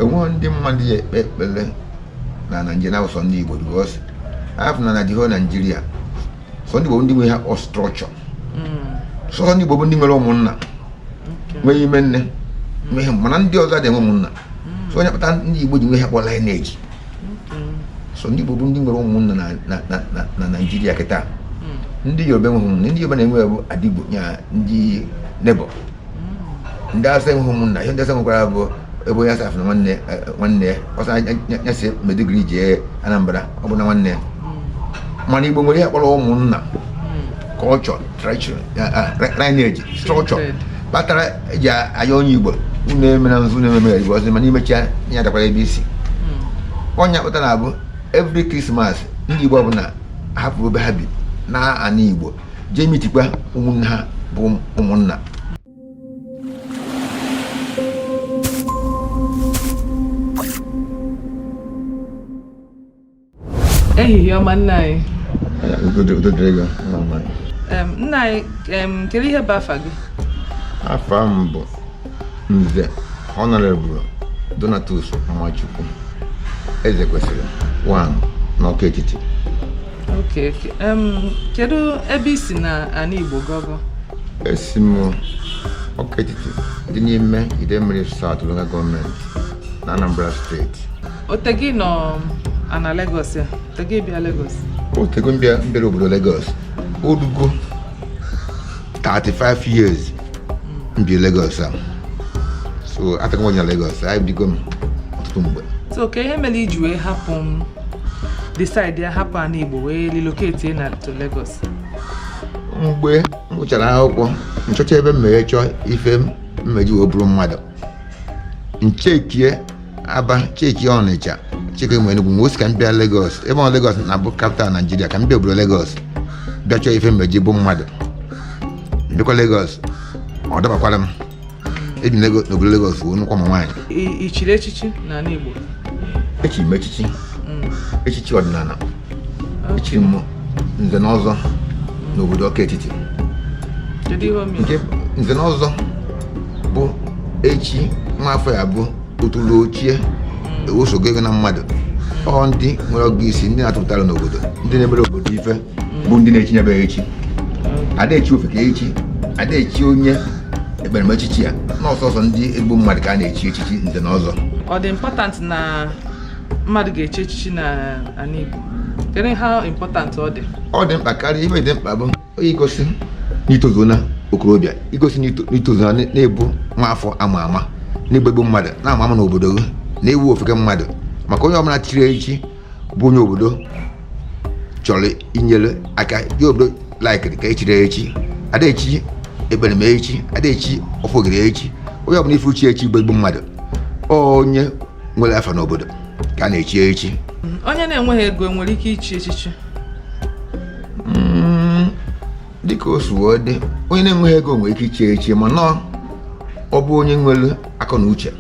enweghị ndị mmadụ ya ekpe ekpere na naijiria bụ sọ ndị igbo because afọ na naijiria naijiria sọ ndị igbo ndị nwe ihe a kpọ structure sọ ndị igbo bụ ndị nwere ụmụnna nwee ime nne nwee ihe mana ndị ọzọ adịghị ụmụnna so ọ ya kpata ndị igbo ji nwe ihe a kpọ lineage so ndị igbo bụ ndị nwere ụmụnna na- na- na- na- na naijiria kịta ndị yoruba enweghị ụmụnna ndị yoruba na-enwe bụ adugbo ya ndị neighbour ndị Awụsa enweghị ụmụnna ihe ndị Awụsa nwekwara bụ ebe onye Awụsa fụ na nwanne nwanne ya ọ sị ya si Maiduguri jee Anambra ọ bụ na nwanne ya mana Igbo nwere ihe kpọrọ ụmụnna culture tradition lineage structure kpatara eji aya onye Igbo unu emena nzu unu ememe Igbo ọzọ mana i mechaa ị ya-alakwara ebe i si ọ ya kpatara na-abụ every Christmas ndị Igbo ọbụla hapụ ebe ha bi naa ana Igbo jee meetikwa ụmụnne ha bụ ụmụnna ehihie ọma nna anyị nna anyị kedu ihe bụ afa gị afa m bụ nze honorable donatus nwachukwu eze kwesịrị one n'ọka etiti Okay, okay. Um, kedu ebe i si na ana Igbo gọgọ? Esi m ọka etiti dị n'ime Idemili South local government na Anambra steeti. O tego ị nọ ana Lagos ya? O tego ị bịa Lagos? O tego m bịa m bịara obodo Lagos. O rugo 35 years m bịa Lagos a. So ataka m onye na Lagos, ebigo m ọtụtụ mgbe. So kee ihe mere i ji wee hapụ mm decide ya hapụ ana Igbo wee relocate na to Lagos mgbe m gụchara akwụkwọ m chọchaa ebe m ma-eje chọọ ife m ma-eji wee bụrụ mmadụ m checkie aba checkie ọnịcha checkie mgbe enugwu m wee sị ka m bịa Lagos ebe ọ Lagos na-abụ capital Naijiria ka m bịa obodo Lagos bịa chọọ ife m ma-eji bụ mmadụ m bịakwa Lagos ọ dabakwara m ebi n'obodo Lagos wee nụkwa ma nwaanyị i chiri echichi n'ala Igbo echiri m echichi mm. echichi ọdịnana echiri m nze na ọzọ n'obodo ọka etiti nke nze na ọzọ bụ echi nwa afọ ya bụ otulu ochie mm. ewezuga ego na mmadụ ọ ndị nwere ọgụgụ isi ndị na-atụpụtara n'obodo ndị na-emere obodo ife bụ ndị na-echinyebe echi a da-echi ofeke echi a da-echi onye ekperima echichi ya na ọ sọsọ ndị ezigbo mmadụ ka a na-echi echichi nze na ọzọ ọ dị important na mmadụ ga-echi echichi na ala Igbo kedu how important ọ dị ọ dị mkpa karịa ibe dị mkpa bụ onye igosi na i tozu na okorobịa igosi na i tozu na na ị bụ nwa afọ a ma ama na ị bụ ezigbo mmadụ na-ama ama n'obodo gị na-ewu ofeke mmadụ maka onye ọbụla chiri echi bụ onye obodo chọrọ inyere aka onye obodo likere ka e chiri echi a da-echi ekperima echi a da-echi ofogiri echi onye ọbụla ị fụ chiri echi bụ ezigbo mmadụ onye nwere afa n'obodo ka a na-echi echi onye na-enweghị ego nwere ike ichi echichi dịka o si wee dị onye na-enweghị ego nwere ike ichi echi mana ọ bụ onye nwere akọ na uche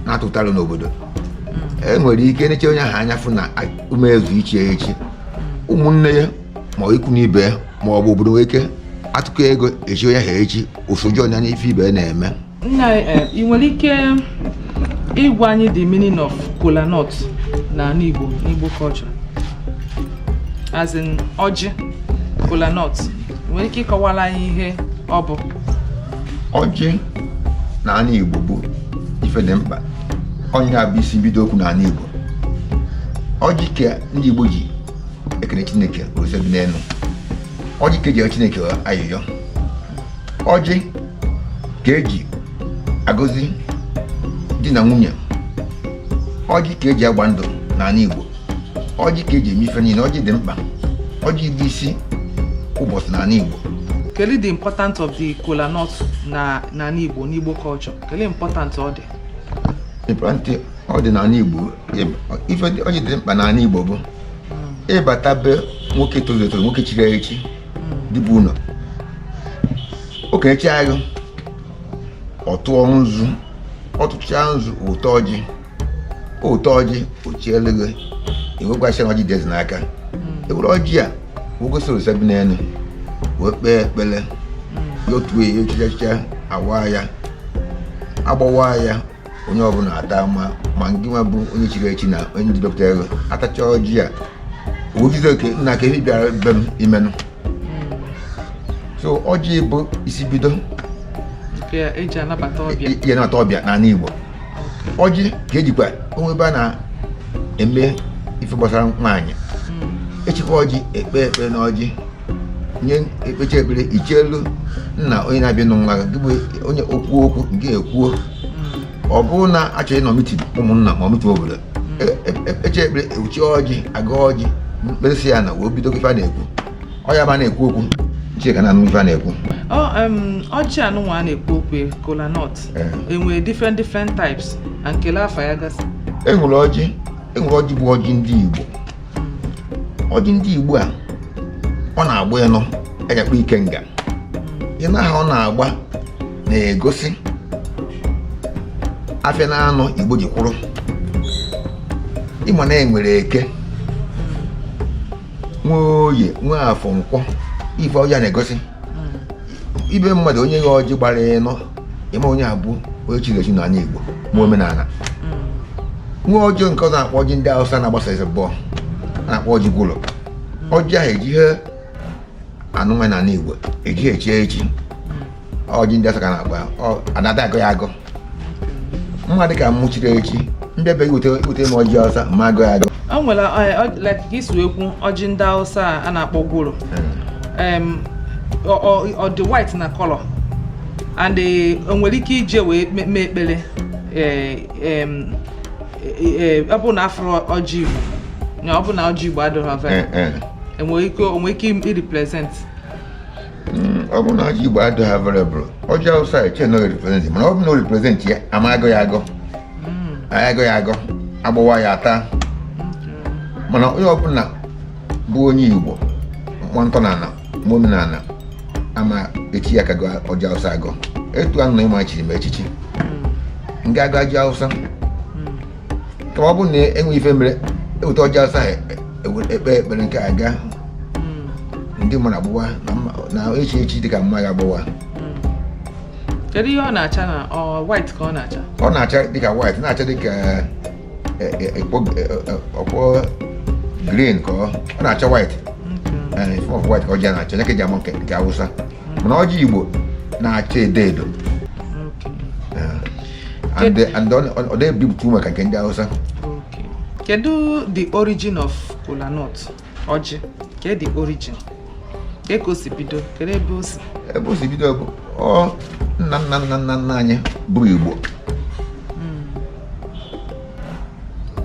na-atụta aro n'obodo e nwere ike neche onye ahụ anya fụ na o mezu ichi echi ụmụnne ya ma ọ ikwu na ibe ya ma ọ bụ obodo nwere ike atụkọ ego echi onye ahụ echi o so join n'ife ibe ya na-eme nna anyị, ị nwere ike ịgwa anyị the meaning of kola nut na anị Igbo n'Igbo culture as in ọjị kola nut nwere ike ịkọwara anyị ihe ọ bụ ọjị na anị Igbo bụ ife dị mkpa ọ nya bụ isi bido okwu na anị Igbo ọjị ka ndị Igbo ji ekene Chineke Ose bi n'enu ọjị ka eji Chineke ayịyọ ọjị ka eji agọzi di na nwunye ọjị ka eji agba ndụ n'anị Igbo ọjị ka eji eme ife niine ọjị dị mkpa ọjị bụ isi ụbọsị n'anị Igbo kedu the important of the kola nut na n'ala Igbo n'Igbo culture kedu important ọ dị important ọ dị n'anị Igbo ife o ji dị mkpa n'anị Igbo bụ ị bata be nwoke tozuru etozu nwoke chiri echi di bi ụnọ o kenechaa gị ọ tụọ nzu ọ tụchaa nzu o wete ọjị o wete ọjị o cheelu gị i wee gwa ya sị na ọjị dị eze n'aka e were ọjị a wee gosi Orisa bi n'enu wee kpee ekpere ya otu echicha awa ya agbawa ya onye ọbụla ata ma ma ngị nwa bụ onye chiri echi na onye ndị dọpụta ego atachaa ọjị a ogido oke nna ka ị bịara be m i meenụ so ọjị bụ isi bido Nke eji anabata ọbịa. eji anabata ọbịa n'anị Igbo ọjị ka ejikwa o nwee ebe a na-eme ife gbasara nwaanyị Mm. e chekwa ọjị ekpee ekpere na ọjị nye ekpechi ekpere iche elu nna onye na-abịa nụ nwa gị bụ onye okwu okwu nke ekwuo ọ bụrụ na achọ ịnọ mitin ụmụnna ma mitin ọbụla ekpechi e, e, ekpere e wee chee ọjị agọ ọjị ekpesịa ya na wee bido ife a na-ekwu ọ ya bụ na-ekwu okwu chika na ife a na-ekwu ọjị anụnwa a na-ekwu okwu e, kola nut enwere different different types na nkele afa ya gasị enwere ọjị enwere ọjị bụ ọjị ndị Igbo ọjị ndị igbo a ọ na-agba ịnọ a ga-akpọ ikenga ịnọ ahụ ọ na-agba na-egosi afịa na anọ igbo ji kwụrụ ịma na enwere eke nwee oye nwee afọ nkwọ ife ọjị a na-egosi ibe mmadụ o nye gị ọjị gbara ịnọ ịma onye a bụ onye chiri echi na anị igbo ma omenala mm. nwee ọjị ọzọ nke a na-akpọ ọjị ndị awụsa na-agba sọ ịbụọ a na-akpọ ọjị gwọrọ mm. ọjị ahụ ejighị ya anụ nwaanyị na anị igbo ejighị echi echi mm. ọjị ndị awụsa ka na-agba anada agọ ya agọ mụwa dịka m chiri echi m bịa be gị ibute m ọjị awụsa ma agọ ya agọ o nwere eh, isiokwu ọjị ndị awụsa a na-akpọ gwọrọ hmm. ọ dị white na color and eh, o nwere ike iji ya wee mee ekpere eh, eh, ọ bụ na afụrọ ọjị igbo na ọ bụ na ọjị igbo adịghị ava- o nwere ike o nwee ike irepresent hmm, ọ bụ na ọjị igbo adịghị available ọjị awụsa eche na represent mana ọ bụ na o represent ya ama agọ ya agọ hmm. agọ ya agọ agbawa ya ata mana onye ọbụla bụ onye igbo ma ntọnala ma omenala ama eche ya ka ọ gọọ ọjị awụsa agọ etu ahụ na ịma e chiri m echichi m ga-agọ ọjị awụsa kama ọ bụrụ na enwe ife mere eweta ọjị awụsa ahụ ewe- ekpe ekpere nke a gaa ndị mmadụ agbawa na mma- na echi echi dị ka m ma ya agbawa kedu ihe ọ na-acha na ọ white ka ọ na-acha ọ na-acha dịka white na-acha dịka ọkpọ green ka ọ na-acha white off white ka ọjị na-acha nya ka eji ama nke nke awụsa mana ọjị igbo na-acha edo edo and ọ na-ebipụta ume ka nke ndị awụsa kedu the origin of kola nut ọjị kedu origin ka e ka o si bido kedu ebe o si ebe o si bido bụ ọ nna nna nna nna nna anyị bụ igbo hmm.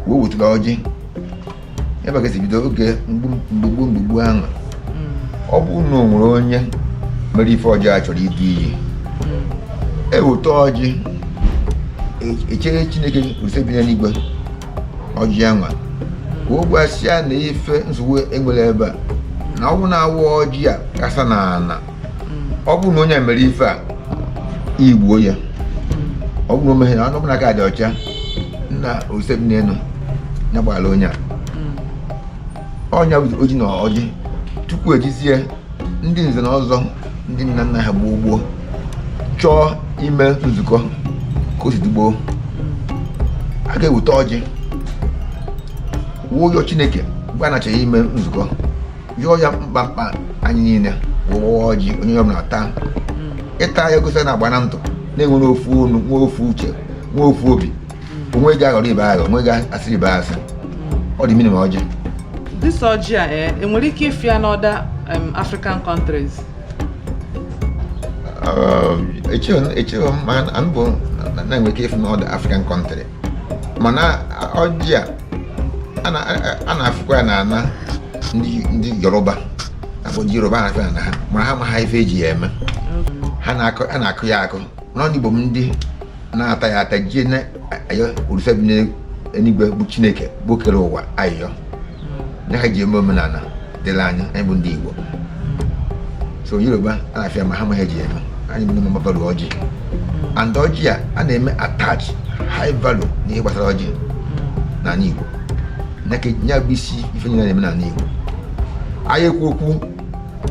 wee wetụla ọjị ebe a ka e si bido oge gboo gboo ahụ hmm. ọ bụ na o nwere onye mere ife ọjọọ a chọrọ idu iyi hmm. eweta ọjị echeere chineke ose bi n'enigwe ọjị anwa ka o gwasịa na ife nsogbu enwere ebe a na ọgwụ na-awa ọjị a kasa na ana ọ bụrụ na onye mere ife a igbuo ya ọ bụrụ na o meghị na onye ọbụla aka dị ọcha na ose bi n'enu ya gbara onye a ọnya bụ ọjị na ọjị tupu ejizie ndị nze na ọzọ ndị nna nna ha gboo gboo chọọ ime nzukọ ka o si dị gboo a ga-eweta ọjị wee yọọ chineke mgbe a na-achọ ime nzukọ yọọ ya mkpa mkpa anyị niile wee waa ọjị onye ọ bụla taa ịta ya gosi na agbana ndụ na-enwere ofu ọnụ nwe ofu uche nwe ofu obi o nweghị aghọrọ ibe aghọ o nweghị asịrị ibe asị ọ the meaning of ọjị this ọjị a eh, enwere ike ịfụ ya na other African countries um, echeghị m ma ọ bụ na-enwe ike ịfụ na other African country mana ọjị a a na-afụkwa ya na ana ndị Yoruba akpọ ndị Yoruba na-afụ ya na ha mana ha amaha ife eji ya eme ha na-akụ ya akụ n'ọnụ igbo bụ ndị na-ata ya ata jie ya ayọ olise bi n'eluigwe bụ chineke bụ kere ụwa ayọ na ha ji eme omenala dịla anya anyị bụ ndị igbo so yoruba a na-afụ ya ma ha amaha ji eme anyị bụ ndị mmadụ ọjị and ọjị a a na-eme attach high value n'ihe gbasara ọjị n'ala igbo ya bụ isi ife niile na-eme n'ala igbo a ya-ekwu okwu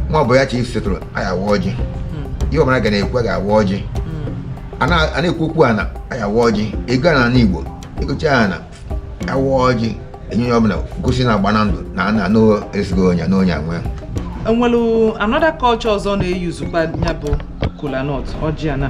nwa ọ bụ ya chief setụrụ a ya-awa ọjị hmm. ihe ọbụla a ga na-ekwu a ga-awa ọjị hmm. a na-ekwu okwu ana a ya-awa ọjị egoo ana na igbo egochaa ana awa ọjị enye onye ọbụla gosi na agbana ndụ na ana anụ esigo onye na onye anwe enwelu another culture ọzọ na-eyuzukwa ya bụ kolanut ọjị ana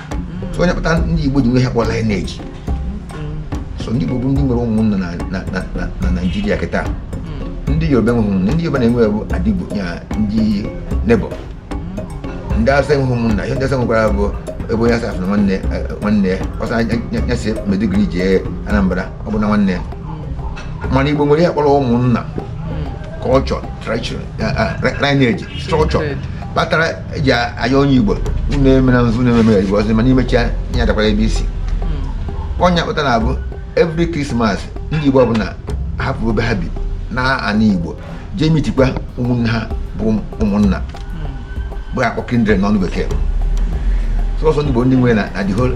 ọ ya kpata ndị Igbo ji nwe ihe a kpọ lineage so ndị Igbo bụ ndị nwere ụmụnna na Naịjirịa kịta ndị Yoruba enweghị ụmụnna ndị Yoruba na-enwe bụ adugbo ya ndị neighbour ndị Hausa enweghị ụmụnna ihe ndị Hausa nwekwara bụ ebe onye Hausa fụ na nwanne nwanne ya ọsọ ya si Maiduguri jee Anambra ọ bụ na nwanne ya mana Igbo nwere ihe a kpọrọ ụmụnna culture, tradition, uh, uh, lineage, structure. But eji aya onye igbo unu emena nzu unu ememe igbo ọzọ mana i mecha ị ya-alakwa ebe i si ọ ya hmm. kpata na-abụ every krismas ndị igbo ọbụla hapụ ebe ha bi naa ana igbo jee mitikwa ụmụnne ha bụ ụmụnna hmm. bụ a kpọ kindred n'ọnụ bekee sọsọ ndị igbo ndị nwere na the whole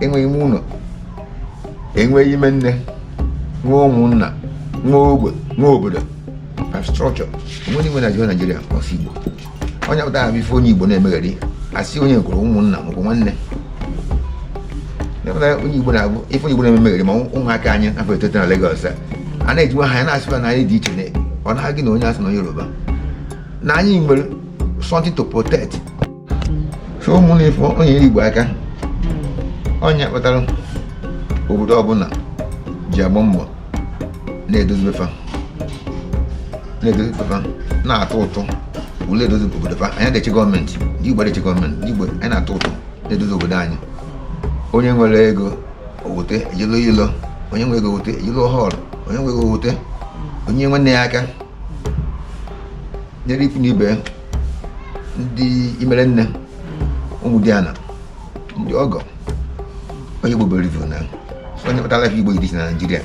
e nwee ime ụnọ e nwee ime nne nwee ụmụnna nwee ogbe nwee obodo structure onwe n'ime na jiwa naijiria ọ sọ igbo onye pụta ha bụ ife onye igbo na-emegheri asị onye gwụrụ ụmụnna maọbụ nwanne onye igbo na-abụ ife onye igbo na-emegheri ma ụmụaka anyị afọ etete na Lagos a na-ejiwa ha ya na-asịba na anyị dị iche na ọ na-agị na onye awụsa na onye yoruba na anyị nwere something to protect so ụmụnne ife onye igbo aka ọ nya kpatara obodo ọbụla ji agba mbọ na-edozi be fa na-edozi be fa na-atụ ụtụ welu edozi obodo fa anyị ada-eche gọọmenti ndị igbo ada-eche gọọmenti ndị igbo anyị na-atụ ụtụ na-edozi obodo anyị onye nwere ego o wote eji lụọ ilo onye nwere ego o wote eji lụọ họl onye nwere ego o wote o nye nwanne ya aka nyere ikwu na ibe ndị imere nne ụmụdiana ndị ọgọ onye Igbo bere na ọ nya kpatara ka Igbo iri si na Naịjirịa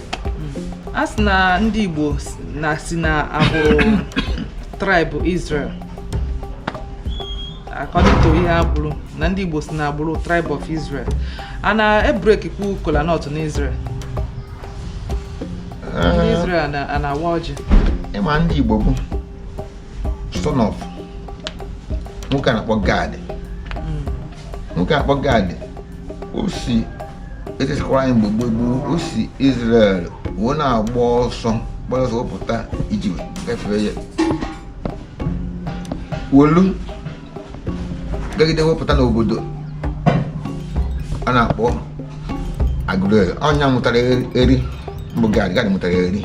a sị na ndị Igbo na si na agbụrụ tribe Israel according to ihe agbụrụ na ndị Igbo si na agbụrụ tribe of Israel a na-ebrekikwu kola nut n'Israel ndị Israel na-awa ọjị ịma ndị Igbo bụ son of nwoke a na-akpọ Gad hmm. nwoke a na-akpọ Gad o si Israel mgbe gboo gboo o si Israel wee na-agba ọsọ gbara ọsọ wee pụta Egypt gafee ya welu gagide wee pụta n'obodo a na-akpọ Aguleri ọ nya mụtara Eri mbụ Gad Gad mụtara Eri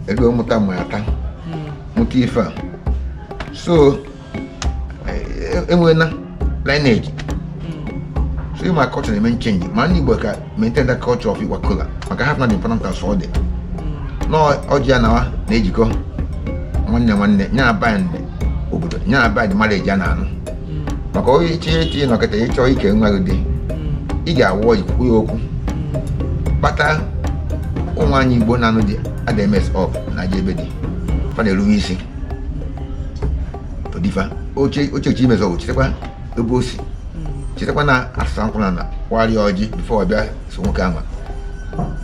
Eri mụta ma Atta mụta fa so e nwela lineage so ịma culture na-eme nchenji ma ndị Igbo ka maintain that culture of Igbo kola maka ha na the important as ọ dị na ọjị a na-awa na-ejikọ nwanne na nwanne ya na bind obodo ya na bind mara eji a na-anụ maka onye iche etinye nọkịta ịchọ ike nwa gị dị ị ga-awa ọjị kwukwu ya okwu kpata ụmụ anyị Igbo na-anụ dị adms of na aja ebe dị fa na-eruwe isi odifa oche oche oche imezọ ochetekwa ebe o si chetakwa na asụsa nkwụ na na kwarịa ọjị before ọ bịa so nwoke ama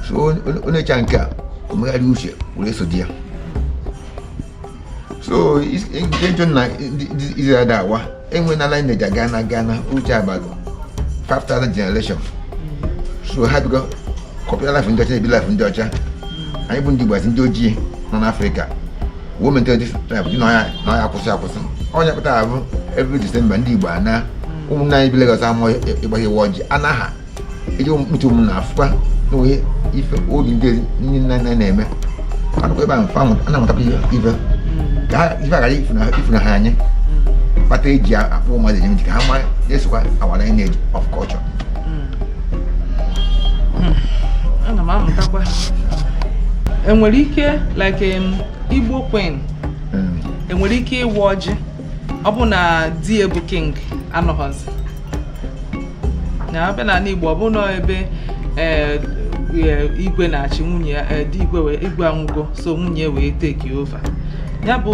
so onye cha nke a o megharị uche were so di ya so nke jụ na izere ada awa enwe na ala neja gana gana uche abalị 5000 generation so ha bigo kọpịa life ndị ọcha na-ebi life ndị ọcha anyị bụ ndị igbo asị ndị ojii nọ n'afrịka women 25 ji na ọya akwụsị akwụsị ọ ya kpata ọ bụ every December ndị Igbo ana ụmụnne anyị bi Lagos amụọ ịgbaghe ịwa ọjị anaghị eji mkpuchi ụmụ na afụkwa na onye ife obi ndị ndị nna nna na-eme anụkwa ebe ahụ fa ana-amụtakwa ife ka ha ife aghara ifuna ha ọ ya kpata eji akpụ mmadụ eji ka ha ma esokwa awara anyị na-eji of culture hmm. Hmm. ana m amụtakwa enwere ike like um, igbo queen hmm. enwere ike ịwa ọjị ọ bụ na di ya bụ king anọghọzi ya a bịa n'ala igbo ọ bụ na ebe eh, eh, igwe na-achị nwunye ya eh, di igwe igwe anwụgo so nwunye wee take over ya bụ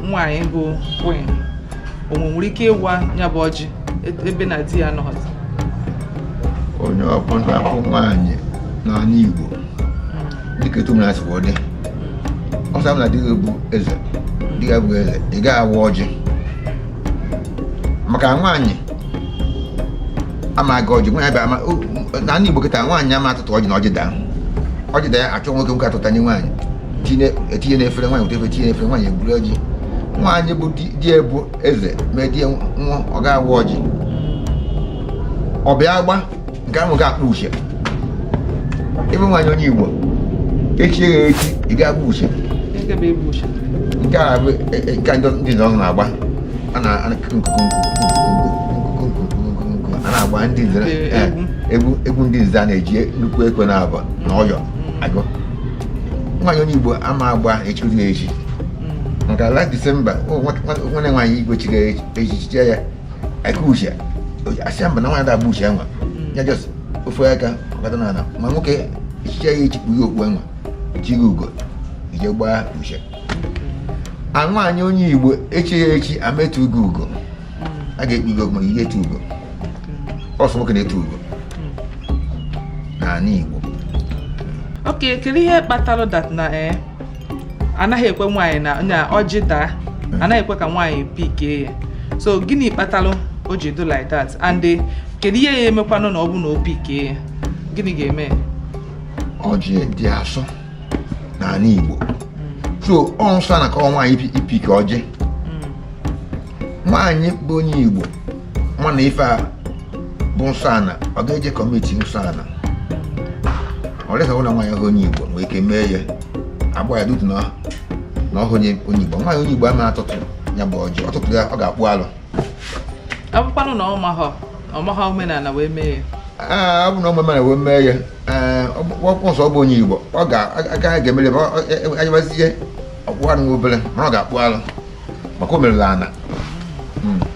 nwaanyị bụ queen o nwere ike ịwa ya bụ ọjị ebe na di ya anọzi onye ọbụla bụ nwaanyị n'ala Igbo dịka etu na sikwa dị ọsa na di gị bụ eze di gị abụ eze ị gaghị awa ọjị maka nwaanyị ama agọ ọjị nwaanyị bịa ama n'ala Igbo kịta nwaanyị ama atụtụ ọjị na ọjị daa ọjị daa ya achọ nwoke nwoke atụtanye nwaanyị etinye n'efere nwaanyị weta efere tinye n'efere nwaanyị eburu ọjị nwaanyị bụ di ya bụ eze medie nwa ọ ga-awa ọjị ọ bịa agba nke ahụ ga-agba ushie ebe nwaanyị onye igbo echi ya echi ị ga-agba ushie nke a bụ e, e, nke ndị nọ na-agba a na-agba ndị nze e, egwu egwu ndị nze a na-eji nnukwu ekwe na-aba na ọyọ akụ nwaanyị onye igbo ama agba echiri ya echi maka last December nwere nwaanyị igwe chiri echichi ya akụ ushie asị ya mba na nwaanyị da agba ushie anwa mm. ya just ofe aka gbata na ala ma nwoke echichi ya echi kpu ya okpu anwa ji gị ugo i je gbaa ushie a nwaanyị onye igbo echi ya echi ama etu gị ugo mm. a ga-ekpu gị okpu ma ihe etu ugo mm. ọ sọ nwoke na-etu ugo n'ala igbo okay kedu ihe kpatara that na ee eh, anaghị ekwe nwaanyị na ọjị daa anaghị ekwe ka nwaanyị pikee ya so gịnị kpatalụ o ji dụ like that and eh, kedu ihe ya emekwanụ na ọ bụ na o pikee ya gịnị ga-eme ọjị dị asọ n'ala Igbo so ọ nsọ na ka nwaanyị ịpick ọjị nwaanyị bụ onye igbo mana ife a bụ nsọ ana ọ ga-eje commit nsọ ana ọ dịghị ụlọ nwaanyị ahụ onye igbo nwee ike mee ya agba ya dutu na ọhụ onye igbo nwaanyị onye igbo ama atụtụ ya bụ ọjị ọ tụtụ ya ọ ga-akpụ alụ ọ bụkwanụ na ọ maha omenala wee mee ya ọ bụ na omenala wee mee ya ọkpụkpọ nsọ ọ bụ onye igbo ọ ga-agaghị ga-emere ebe anyịwazie ọ kpụọ alụ obere mana ọ ga-akpụ alụ maka o merela ana hmm.